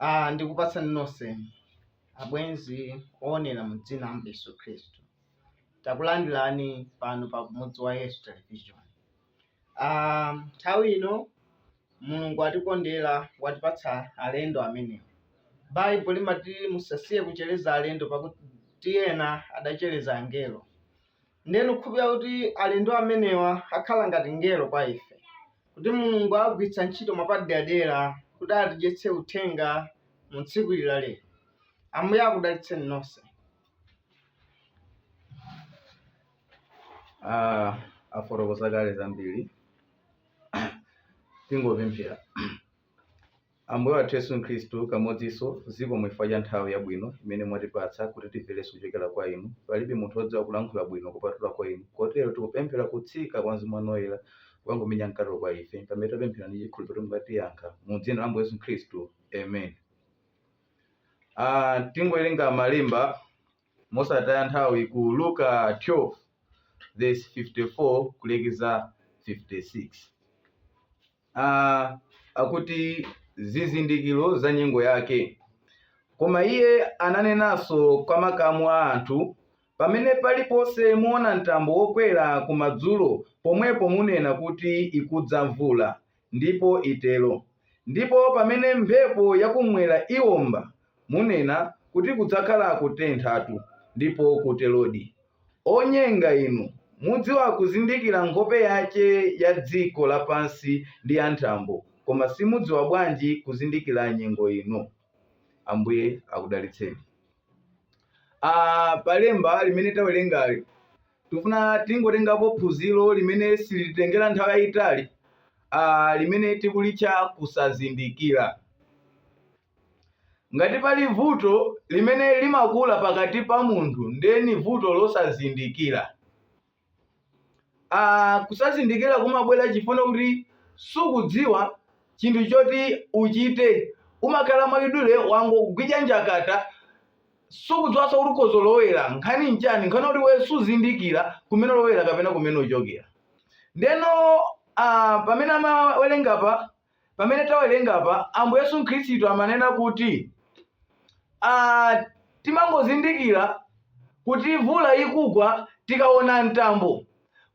Ah, ndikupatsani nonse abwenzi oonera mu dzina la Yesu Khristu. Takulandirani pano pa Kumudzi wa Yesu Television. Ah, nthawi ino Mulungu atikondera watipatsa alendo amenewa. Baibulo limati musasiye kuchereza alendo pakuti ena adachereza angelo. Ndiye ndikukhulupirira kuti alendo amenewa akhala ngati mngelo kwa ife, kuti Mulungu awagwiritsa ntchito mwapaderadera kuti atidyetse Uthenga mu tsiku ili la lero. Ambuye akudalitseni nonse. Ah, afotokoza kale zambiri. Tingopemphera. Ambuye wathu Yesu Khristu, kamodzinso, zikomo chifukwa cha nthawi yabwino imene mwatipatsa kuti timverenso kuchokera kwa Inu. Palibe munthu wodziwa kulankhula bwino kupatulako Inu, kotero tikupemphera kutsika kwa Mzimu Wanu Woyera kukangomenya mkatelo kwa ife, pamene tapemphera ndi chikhulupiliro kuti mukatiyankha. Mu dzina la Ambuye Yesu Khristu, Amen. Ah, tingowerenga malemba mosataya nthawi ku Luka 12 verse 54 kulekeza 56. a, akuti zizindikiro za nyengo yake. Koma iye ananenanso kwa makamu a anthu, Pamene paliponse muona mtambo wokwera kumadzulo, pomwepo munena kuti ikudza mvula, ndipo itero. Ndipo pamene mphepo yakumwera iomba, Munena kuti kudzakhala kutenthatu, ndipo kuterodi. Onyenga inu! Mudziwa kuzindikira nkhope yace ya dziko lapansi ndi ya nthambo, koma simudziwa bwanji kuzindikira nyengo ino? Ambuye akudalitseni. A, pa lemba limene tawerengali, tifuna tingotengapo phunziro limene silititengera nthawi yayitali, a, limene tikulitcha kusazindikira. Ngati pali vuto limene limakula pakati pa munthu nde ni vuto losazindikila. Aaa kusazindikila kumabwela chifukwa kuti sukudziwa chinthu choti uchite umakhala mwachidule wangogwidwa njakata sukudziwaso kuti ukozolowela nkhani nchani nkhani yoti iweyo suzindikila kumene ulowela kapena kumene uchokela. Ndeno aah pamene amawelenga apa Pamene tawerenga apa, Ambuye Yesu Khristu amanena kuti ah, timangozindikira kuti mvula ikugwa tikaona mtambo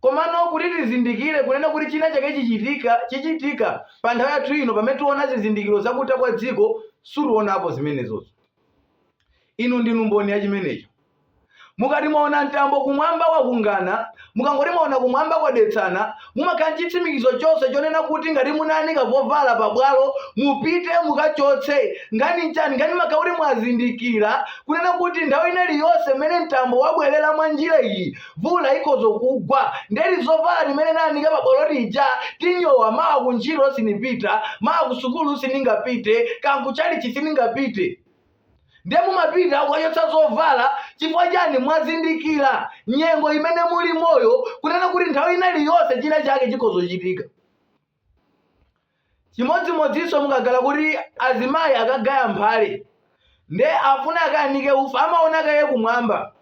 komano kuti tizindikire kunena kuti china chake chichitika chichitika pa nthawi yathu ino pamene tiona zizindikiro zakutha kwa dziko sitionapo zimenezozo inu ndinu mboni ya chimenecho Mukati mwaona mtambo kumwamba wakungana, mukangoti mwaona kumwamba kwadetsana, mumakhala ndi chitsimikizo chonse chonena kuti ngati munaanika zovala pabwalo, mupite mukachotse. Nkhani n'chani? Nkhani imakhala kuti mwazindikira kunena kuti nthawi ina iliyonse imene mtambo wabwerera mwa njira iyi, mvula ikhoza kugwa. Ndiye tizovala timene naanika pabwalo tija tinyowa, mawa kuntchito sinipita, mawa kusukulu siningapite, kaya kuchalichi siningapite. ndiye mumapita kukachotsa zovala chifukwa chani mwazindikira nyengo imene mulimoyo kunena kuti nthawi ina iliyonse china chake chikhoza kuchitika chimodzimodzinso mukakhala kuti azimayi akagaya mphale nde afuna akaanike ufa amaona kaye kumwamba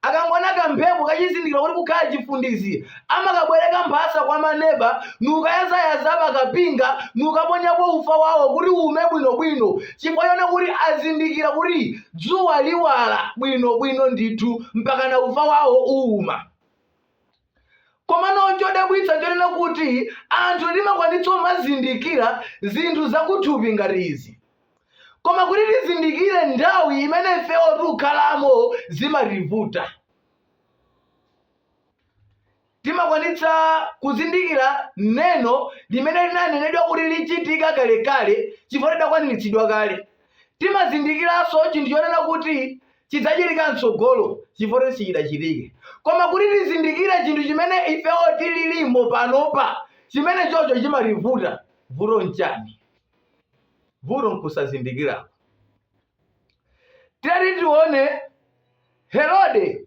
Akangoona kamphepo kachizindikira kuti kukhala chifundizi, amakabwereka mphasa kwa maneba n'kukayalayala pa kapinga n'kukaponyapo ufa wawo kuti uume bwinobwino chifukwa choona kuti azindikira kuti dzuwa liwala bwinobwino ndithu mpakana ufa wawo uuma. Komano n'chodabwitsa n'chonena kuti anthu timakwanitsa kumazindikira zinthu zakuthupi ngati izi. Koma kuti tizindikire nthawi imene ifewo tikukhalamo zimativuta. Timakwanitsa kuzindikira neno limene linanenedwa kuti lichitika kalekale chifukwa lidakwaniritsidwa kale. timazindikiranso chinthu chonena kuti chidzachitika mtsogolo chifukwa sichidachitike koma kuti tizindikire chinthu chimene ifewo tililimo panopa chimenechocho chimativuta vuto nchani vuto nkusazindikirako tiyeni tione Herode,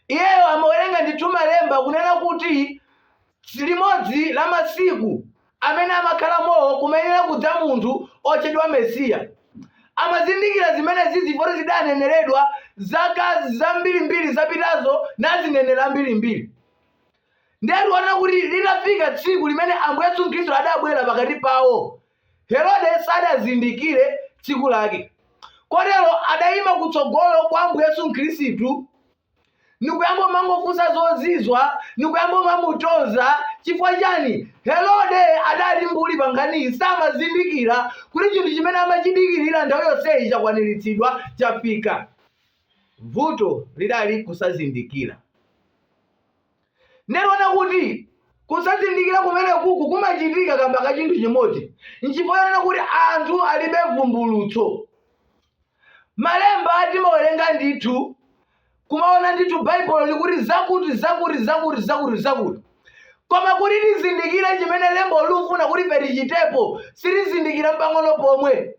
iyewo amawerenga ndithu malemba kunena kuti limodzi la masiku amene amakhalamowo kumayenera kudza munthu otchedwa Mesiya. Amazindikira zimenezizi poti zidaneneredwa zaka zambirimbiri zapitazo ndi azineneri ambirimbiri. Ndiye tiona kuti litafika tsiku limene Ambuye Yesu Khristu adabwera pakati pawo, Herode sadazindikire tsiku lake, kotero adaima kutsogolo kwa Ambuye Yesu Khristu nikuyamba kumangofunsa zozizwa nikuyamba kumamutonza chifukwa chani herode adali mbuli pa nkhaniyi samazindikira kuti chinthu chimene amachidikirira nthawi yonseyi chakwaniritsidwa chafika vuto lidali kusazindikira Nde tiona kuti kusazindikira kumenekuku kumachitika kamba ka chinthu chimodzi. Nchifukwa chonena kuti anthu alibe vumbulutso. Malemba timawerenga ndithu, kumaona ndithu Baibulo likuti zakuti, zakuti, zakuti, zakuti, zakuti. Koma kuti tizindikire chimene lembo lufuna kuti ife tichitepo, sitizindikira mpang'ono pomwe.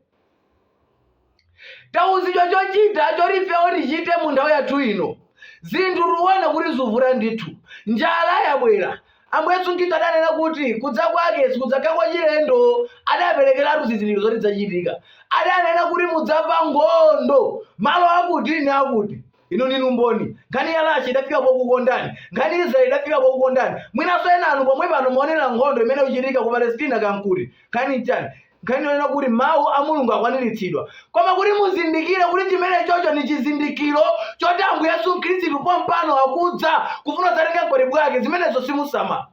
tauzidwa chochita choti ifewo tichite mu nthawi yathu ino zinthu tiona kuti zuvura ndithu njala yabwera ambuye yesu khristu adanena kuti kudza kwake sikudzakhala kwa chilendo adaperekeratu zizindikiro zoti zachitika adanena kuti mudzamva nkhondo malo akuti ni akuti inu ndinu mboni nkhani ya Russia idafika pokukondani nkhani ya israeli idafika pokukondani mwinanso ena inu pomwe pano muonera nkhondo imene ikuchitika ku palestina kaya nkuti nkhani nchani Nkhani yonena kuti mawu a Mulungu akwaniritsidwa. Koma kuti muzindikire kuti chimenechocho ni chizindikiro choti Ambuye Yesu Khristu pompano akudza kufuna kudzatenga mkwatibwi wake, zimenezo simusamala.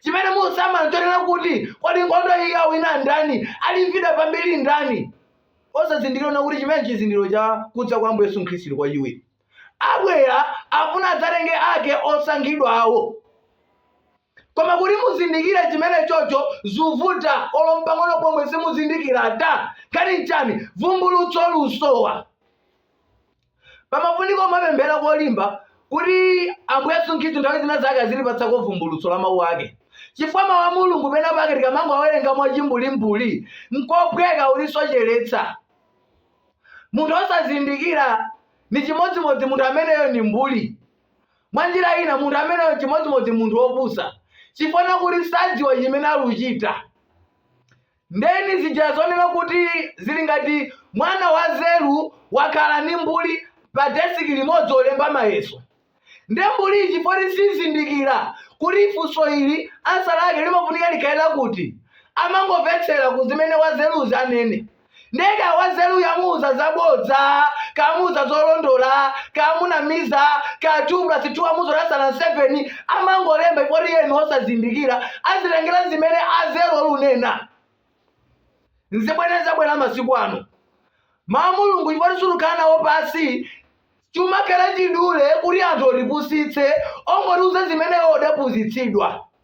Chimene musamala n'chonena kuti, kodi nkhondo iyi awina ndani? Alimbidwa pambiri ndani? Osazindikira kunena kuti chimenechi chizindikiro cha kudza kwa Ambuye Yesu Khristu kwachiwiri. Abwera, afuna adzatenge ake osankhidwawo. koma kuti muzindikire chimene chocho zuvuta olo mpang'ono pomwe simuzindikira ata nkhani nchani vumbulutso lusowa pamafunika umapemphera kolimba kuti ambuye yesu khristu nthawi zina zake azilipatsako vumbulutso la mawu ake chifukwa mawu a mulungu pena pake tikamango awerenga mwachimbulimbuli nkophweka ulisocheretsa munthu osazindikira ni chimodzimodzi munthu ameneyo ni mbuli Mwa njira ina, munthu ameneyo n'chimodzimodzi munthu wopusa chifukwa chakuti sadziwa chimene ali kuchita. Ndeni zija zonena kuti zili ngati mwana wanzeru wakhala ni mbuli padesiki limodzi polemba mayeso. Nde mbuliyi chifukwa choti sizindikira kuti funso ili ansa lake limafunika likhale lakuti, amangomvetsera ku zimene wanzeruyo azi anene. nde kaya wanzeruyo amuuza zabodza kaya amuuza zolondola kaya amunamiza kaya 2 plus 2 amuuza kuti ansa ndi 7 amangolemba chifukwa choti iye ni osazindikira azitengera zimene anzeru alunena nzimene zabwera masiku ano mau a mulungu chifukwa choti sulukhala nawo pansi chimakhala chidule kuti anthu otipusitse ongotiuza zimene iwo odaphunzitsidwa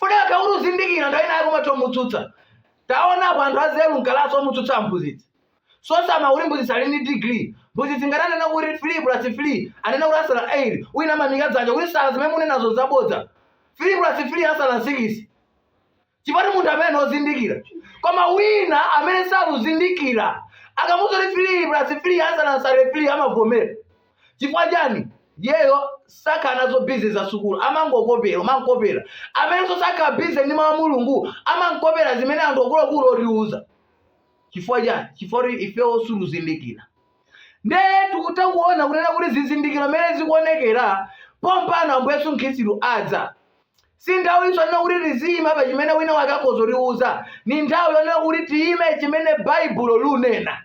Wofunika kuti uzindikira nthawi ina yake umatha umutsutsa. Taonapo anthu anzeru mkalasi omutsutsa mphunzitsi. Osasama kuti mphunzitsi ali ndi degree. Mphunzitsi ngati anena kuti 3 plus 3 anena kuti ansa ndi 8 wina amaimika dzanja kuti sir zimene munenazo zabodza. 3 plus 3 ansa ndi 6. Chifukwa choti munthu amene ndi ozindikira. Koma wina amene sakuzindikira akamuuza kuti 3 plus 3 ansa ansa ndi 3 amavomera. chifukwa chani yeyo sakhala nazo busy za sukulu amangokopera umankopera amenenso sakhala busy ndi mawu a mulungu amankopera zimene anthu akuluakulu otiuza chifukwa chani chifukwa kuti ifewo sitikuzindikira ndiye tikutha kuona kunena kuti zizindikiro mmene zikuonekera pompano ambuye yesu khristu adza si nthawi yonena kuti tiziyima pa chimene wina wake akhoza kutiuza ni nthawi yonena kuti tiyime chimene baibulo lunena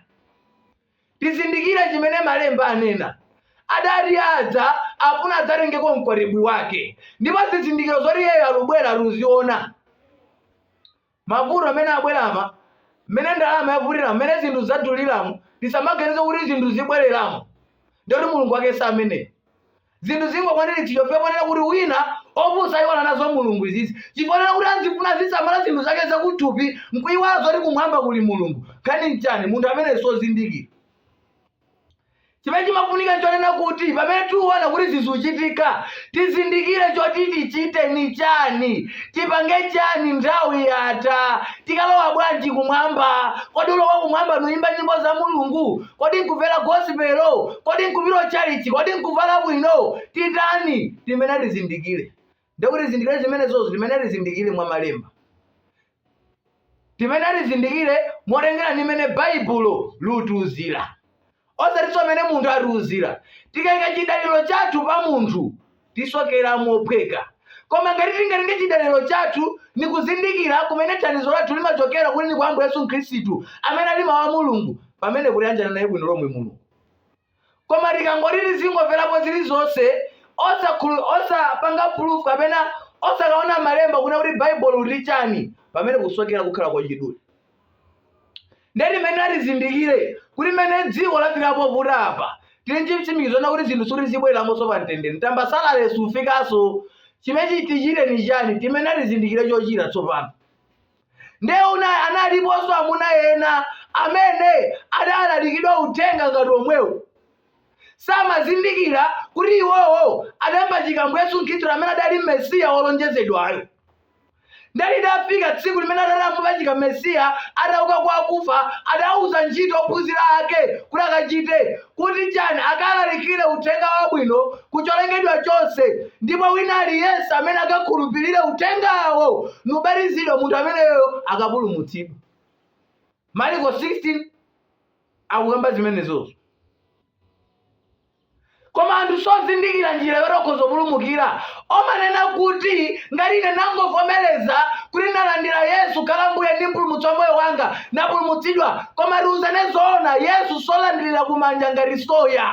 Tizindikire chimene Malemba anena. Adati adza afuna adzatengeko mkwatibwi wake. Ndipo zizindikiro zoti iyeyo alubwera luziona. Mavuto amene abwerama, mmene ndalama yavutiramo, mmene zinthu zaduliramu, tisamaganize kuti zinthu zibwereramo ndekuti Mulungu wake sameneyo. zinthu zingokwaniritsidwa chifukwa chonena kuti wina opusa ayiwala nazo mulungu izizi chifukwa chonena kuti azifuna azisamala zinthu zake zakuthupi nkuyiwala zoti kumwamba kuli mulungu nkhani nchani munthu amene sozindikira chimene chimafunika nchonena kuti pamene tiwona kuti zikuchitika tizindikire choti tichite ni chani tipange chani nthawi yatha tikalowa bwanji kumwamba kodi kulowa kumwamba nuyimba nyimbo za mulungu Kodi nkuvela gospel? Kodi nkupita chalichi? Kodi nkuvala bwino? Titani timene tizindikile? Nde kuti tizindikire zimenezozo timene tizindikire mwa malemba. Timene tizindikire motengera ni mmene Baibulo lutiuzira. Osatiso mmene munthu atiuzira. Tikaika chidaliro chathu pa munthu, tisokera mophweka koma ngati tingatenge chidaliro chathu ni kuzindikira kumene thandizo lathu limachokera kuti ni kwa ambuye yesu khristu amene ali mawu a mulungu pamene kuyanjana naye bwino lomwe mulungu koma tikangoti tizingomverapo zilizonse osakhulu- osapanga proof kapena osakaona mmalemba kuna kuti baibulo liti chani pamene kusokera kukhala kwachidule ndiye timenera tizindikire kuti mmene dziko lafika povuta apa tili nchitsimikizo chonena kuti zinthu sikuti zibwereramonso pa mtendere tambasale sufikanso chimene tichite ni chani timene tizindikire chochita tsopano ndiye una analiponso amuna ena amene adalalikidwa uthenga ngati omwewu samazindikira kuti iwowo adampachika ambuye yesu khristu amene adali mesiya wolonjezedwayo Ndiye lidafika tsiku limene atati amupachika Mesiya atauka kwa akufa, adauza ntchito ophunzira ake kuti akachite, kuti chani? Akalalikire Uthenga Wabwino ku cholengedwa chonse, ndipo wina aliyense amene akakhulupirire Uthengawo nkubatizidwa, munthu ameneyoyo akapulumutsidwa. Mariko 16 akukamba zimenezozo. koma anthu sozindikira njira yoti akhoza kupulumukira omanena kuti ngati ine nangovomereza kuti nalandira yesu kukhala mbuye ndi mpulumutsi wa moyo wanga napulumutsidwa koma tiuzane zoona yesu solandirira kumanja ngati soya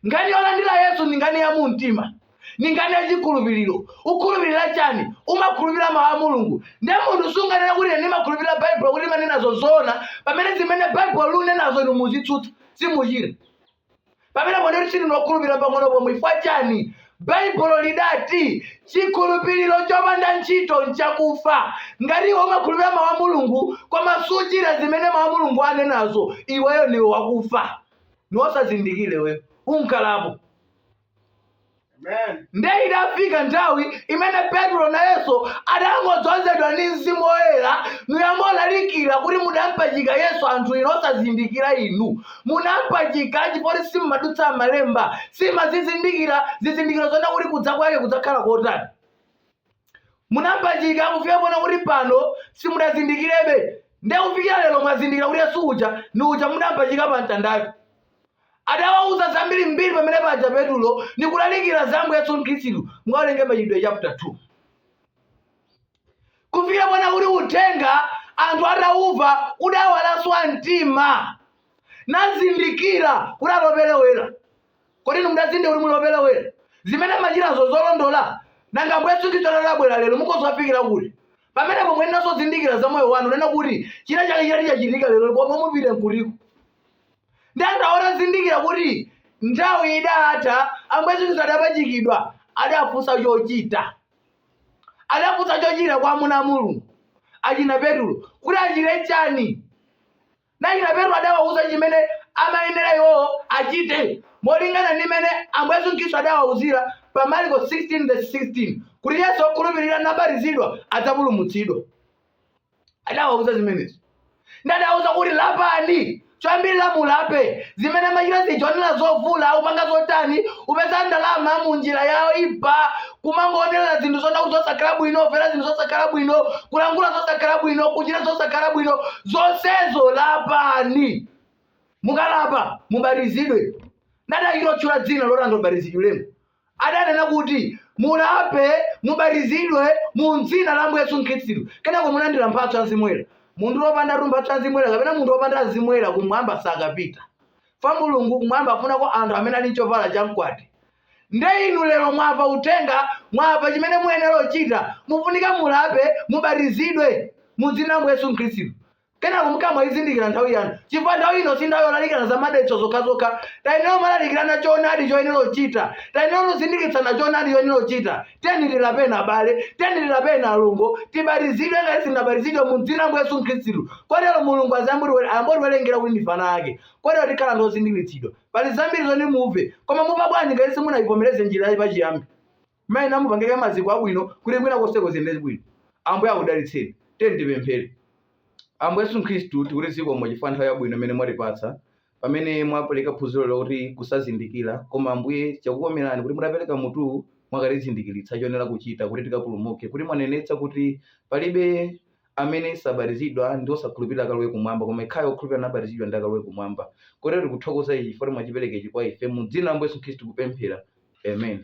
nkhani yolandira yesu ndi nkhani ya mu mtima ndi nkhani ya chikhulupiriro ukhulupirira chani umakhulupirira mawu a mulungu nde munthu sunganena kuti ine ndimakhulupirira baibulo kuti limanenazo zoona pamene zimene baibulo liunenazo inu muzitsutsa simuchita pamenepo ndiye kuti sindinu okhulupirira pang'ono pomwe ifwa chani baibulo lidati chikhulupiriro chopanda ntchito nchakufa ngati iwe umakhulupirira mawu a mulungu koma suchita zimene mawu a mulungu anenazo iweyo ndiwe wakufa niwosazindikira iwe unkalapo nde idafika nthawi imene petro nayenso adangodzozedwa ndi mzimu woyera niyamba olalikira kuti mudampachika yesu anthu inu osazindikira inu munampachika chifukwa choti simumadutsa malemba simazizindikira zizindikiro zonena kuti kudza kwake kudzakhala kotani munampachika kufika ponena kuti pano simudazindikirebe nde kufikira lero mwazindikira kuti yesu uja ni uja mudampachika pa mtandayo adawauza zambiri mbiri pamene paja petulo nikulalikira za ambuye yesu khristu mukawerenge machitidwe chapter 2 kufikira ponena kuti uthenga anthu atauva udawalasa mtima nazindikira kuti atoperewera Kodi inu mudazindikira kuti muli opelewera? Zimene mmachitazo sizolondola? Nanga Ambuye Yesu Khristu atabwera lero mukhoza ofikira kuti? Pamenepo muyeneranso zindikira za moyo wanu kunena kuti china chake chitati chachitika lero komwe mupite nkutiko. Nde anthuwa atazindikira kuti nthawi idatha Ambuye Yesu Khristu adapachikidwa adafunsa chochita. Adafunsa chochita kwa amuna a Mulungu achina Petulo kuti achite chani? Nachina Petro adawauza chimene amayenera iwo achite molingana ndi mmene Ambuye Yesu Khristu adawauzira pa Marko 16 vesi 16 kuti yense wokhulupirira nabatizidwa adzapulumutsidwa. Adawauza zimenezi. Ndi adawauza kuti lapani, choyambirira mulape, zimene mmachita zija oonera zovula, kupanga zotani, kupeza ndalama mu njira yoipa, kumangoonera zinthu zonena kuti zosakhala bwino kumvera zinthu zosakhala bwino kulankhula zosakhala bwino kuchita zosakhala bwino zonsezo lapani mukalapa mubatizidwe ndipo adachita otchula dzina loti anthu abatizidwiremo adanena kuti mulape mubatizidwe mu dzina la ambuye yesu khristu kenako mulandira mphatso ya mzimu woyera munthu wopandatu mphatso ya mzimu woyera kapena munthu wopanda mzimu woyera kumwamba sakapita kwa mulungu kumwamba afunako anthu amene ali nchovala cha mkwati nde inu lero mwamva uthenga mwamva chimene muyenera kuchita mufunika mulape mubatizidwe mudzina la ambuye yesu khristu kenako mukamaizindikira nthawi yanu chifukwa nthawi ino si nthawi yolalikirana za madalitso zokhazokha tayenera kumalalikirana choonadi choyenera kuchita tayenera kuzindikitsana choonadi choyenera kuchita tiyeni tilapeni abale tiyeni tilapeni alongo tibatizidwe ngati sitinabatizidwe mu dzina la yesu khristu kotero mulungu ayambotiwerengera kuti ndife ana ake kotero tikhala ndi ozindikitsidwa pali zambiri zoti mumve koma mumva bwanji ngati simunaivomereze njira yake pachiyambi muyenera mupange maziko abwino kuti kwina konseko ziyende bwino ambuye akudalitseni tiyeni tipemphere ambuye yesu khristu tikuti zikomo chifukwa nthawi yabwino imene mwatipatsa pamene mwapeleka phunziro lakuti kusazindikila, koma Ambuye chakukomelani kuti mutapeleka mutuwu mwakatizindikilitsa choyenera kuchita kuti tikapulumuke, kuti mwanenetsa kuti palibe amene sabatizidwa ndi osakhulupilira akalowe kumwamba, koma ekhayo okhulupilira nabatizidwa ndiye akalowe kumwamba. Kotero tikuthokoza ichi chifukwa kuti mwachipeleka ichi kwa ife, mu dzina la Ambuye Yesu Khristu tikupemphera, Amen.